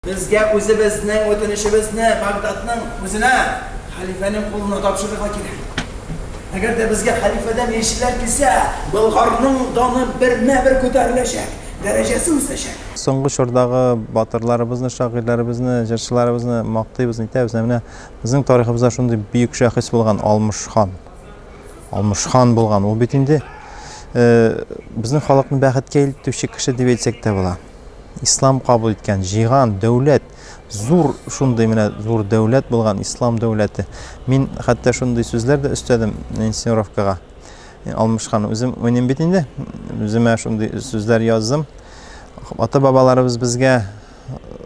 Безгә үзебезнең үтенечебезне Багдадның үзенә, хәлифәнең кулына тапшырырга кирәк. Әгәр дә безгә хәлифәдән илчеләр килсә, Болгарның даны бермә-бер күтәреләчәк, дәрәҗәсе үсәчәк. Соңгы чордагы батырларыбызны, шагыйрьләребезне, җырчыларыбызны мактыйбыз, нитәбез, ә менә безнең тарихыбызда шундый бөек шәхес булган, Алмыш хан. Алмыш хан булган. Ул бит инде безнең халыкны бәхеткә илтүче кеше дип әйтсәк тә була. ислам кабул иткән җыйган дәүләт зур шундый менә зур дәүләт булган ислам дәүләте мин хәтта шундый сүзләр дә өстәдем инсценировкага алмышхан үзем уйныйм бит инде үземә шундый сүзләр яздым ата бабаларыбыз безгә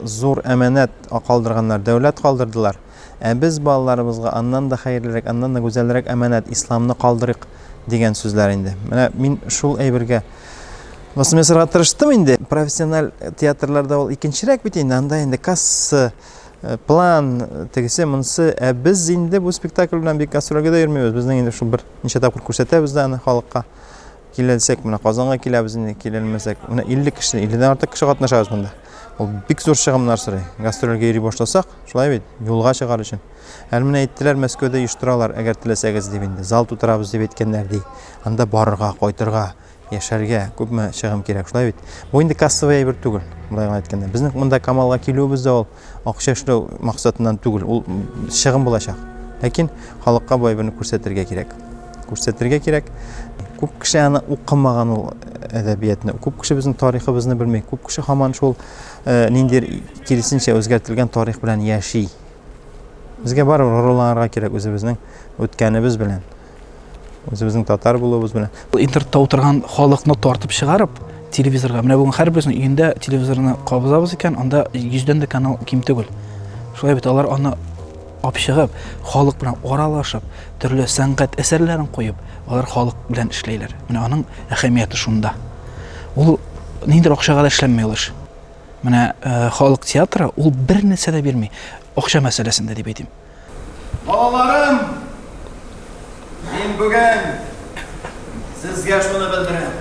зур әманәт калдырганнар дәүләт калдырдылар Ә без балаларыбызга аннан да хәерлерәк, аннан да гүзәлрәк әманәт, исламны калдырыйк, дигән сүзләр инде. Менә мин шул әйбергә басым ясарга тырыштым инде. Профессиональ театрларда ул икенчерәк бит инде, анда инде касса, э, план, тегесе, монсы. Ә без инде бу спектакль белән бик гастрольгә дә йөрмибез. Безнең инде шул бер ничә тапкыр күрсәтәбез дә аны халыкка. Киләлсәк, менә Казанга киләбез инде, киләлмәсәк, менә 50 кеше, 50 дән артык кеше катнашабыз монда. Ул бик зур чыгымнар сорый. Гастрольгә йөри башласак, шулай бит, юлга чыгар өчен. Әле менә әйттеләр, Мәскәүдә оештыралар, әгәр теләсәгез дип инде, зал тутырабыз дип әйткәннәр ди. Анда барырга, кайтырга, яшәргә күпме чыгым кирәк, шулай бит. Бу инде кассовый әйбер түгел, болай гына әйткәндә. Безнең монда Камалга килүебез дә ул Акча эшләү максатыннан түгел, ул чыгым булачак. Ләкин халыкка бай берне күрсәтергә кирәк. Күрсәтергә кирәк. Күп кеше аны укымаган ул әдәбиятны. Күп кеше безнең тарихыбызны белми. Күп кеше һаман шул э, ниндидер киресенчә үзгәртелгән тарих белән яши. Безгә барыбер горурланырга кирәк үзебезнең үткәнебез белән. Үзебезнең татар булуыбыз белән. Интернетта утырган халыкны тартып чыгарып, телевизорга. Менә бүген һәрберсенең өендә телевизорны кабызабыз икән, анда йөздән дә канал ким түгел. Шулай бит алар аны апчыгып, халык белән аралашып, төрле сәнгать әсәрләрен куеп, алар халык белән эшләйләр. Менә аның әһәмияте шунда. Ул ниндидер акчага да эшләнми ул эш. Менә э, халык театры ул бер нәрсә дә бирми. Акча мәсьәләсендә дип әйтим. Балаларым, мин бүген сезгә шуны белдерәм.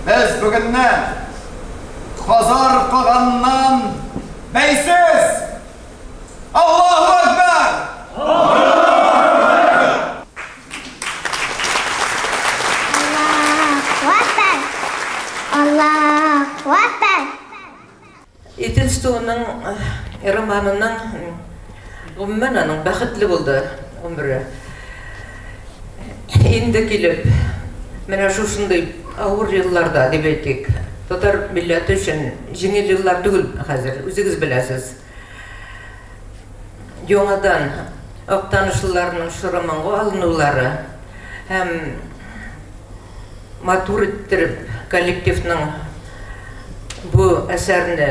Без бүгенне Хазар каганнан бәйсез! Аллаху Акбар! Аллаху Акбар! Аллаху Акбар! Идел суының романының, гомумән, аның бәхетле булды гомере. Инде килеп, менә шушындый авыр елларда, дип әйтик, татар милләте өчен җиңел еллар түгел хәзер, үзегез беләсез. Яңадан Актанышлыларның чоры моңга алынулары һәм Матур иттереп коллективның бу әсәрне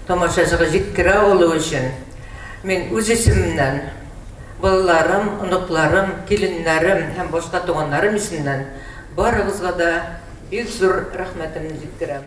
тамашачыга җиткерә алуы өчен мин үз исемемнән, балаларым, оныкларым, киленнәрем һәм башка туганнарым исемнән барыгызга да бик зур рәхмәтемне җиткерәм.